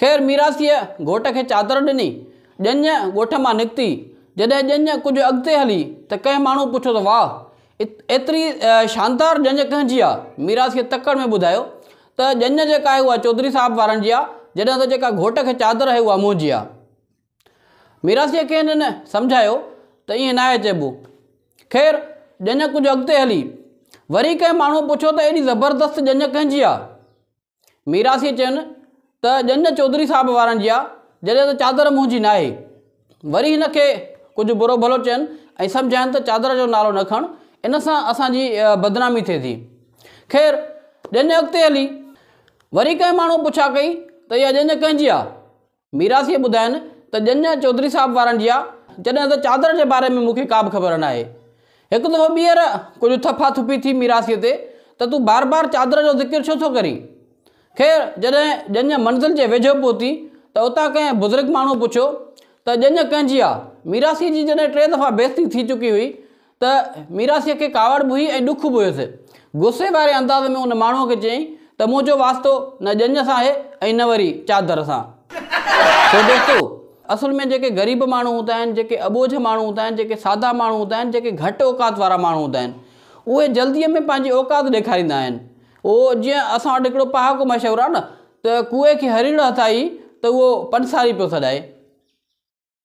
خير ميراثيء گهوٽ کي چادر ڏني. ڄڃ ڳوٺ مان نڪتي. جڏهن ڄڃ ڪجهه اڳتي هلي ته ڪنهن ماڻهو پڇيو ته واهه! ايتري شاندار ڄڃ ڪنهن جي آ؟ ميراثيء تڪڙ ۾ ٻڌايو ته ڄڃ جيڪا آهي اها چوڌري صاحب وارن جي آ، جڏهن ته جيڪا گهوٽ کي چادر آهي اها منهنجي آ. ميراثيء کين هن سمجهايو ته ائين ناهي چئبو. خير ڄڃ ڪجهه اڳتي هلي. وري ڪنهن ماڻهو پڇيو ته ايڏي زبردست ڄڃ ڪنهن جي آ؟ ميراثيء چين ته ڄڃ چوڌري صاحب وارن جيا جڏهن ته چادر منهنجي ناهي. وري هن کي ڪجهه برو ڀلو چين ۽ سمجهائين ته چادر جو نالو نه کڻ، ان سان اسان جي بدنامي ٿئي ٿي. خير، ڄڃ اڳتي هلي. وري ڪنهن ماڻهوء پڇا ڪئي ته اها ڄڃ ڪنهن جي آ؟ ميراثيء ٻڌاين ته ڄڃ ۽ چوڌري صاحب وارن جيا، جڏهن ته چادر جي باري ۾ مون کي ڪابه خبر ناهي. هڪ دفعو ٻيهر ڪجهه ٿڦا ٿڦي ٿي ميراثيء تي ته تون بار بار چادر جو ذڪر ڇو ٿو ڪرين؟ خير، جڏهن ڄڃ منزل جي ويجهو پهتي ته اتان ڪنهن بزرگ ماڻهوء پڇيو ته ڄڃ ڪنهن جي آ؟ ميراثيء جي جڏهن ٽي دفعا بيعزتي ٿي چڪي هئي ته ميراثيء کي ڪاوڙ به هئي ۽ ڏک به هيس. غصي واري انداز ۾ ان ماڻهوء کي چيائين ته منهنجو واسطو نه ڄڃ سان آهي ۽ نه وري چادر سان. ڇو دوستو! اصل ۾ جيڪي غريب ماڻهو هوندا آهن، جيڪي اٻوجهه ماڻهو هوندا آهن، جيڪي سادا ماڻهو هوندا آهن، جيڪي گهٽ اوقات وارا ماڻهو هوندا آهن، اهي جلديء ۾ پنهنجي اوقات ڏيکاريندا آهن. اهو جيئن اسان وٽ هڪڙو پهاڪو مشهور آهي نه ته ڪوئي کي هريڙ هٿ آئي ته اهو پنساري پيو سڏائي.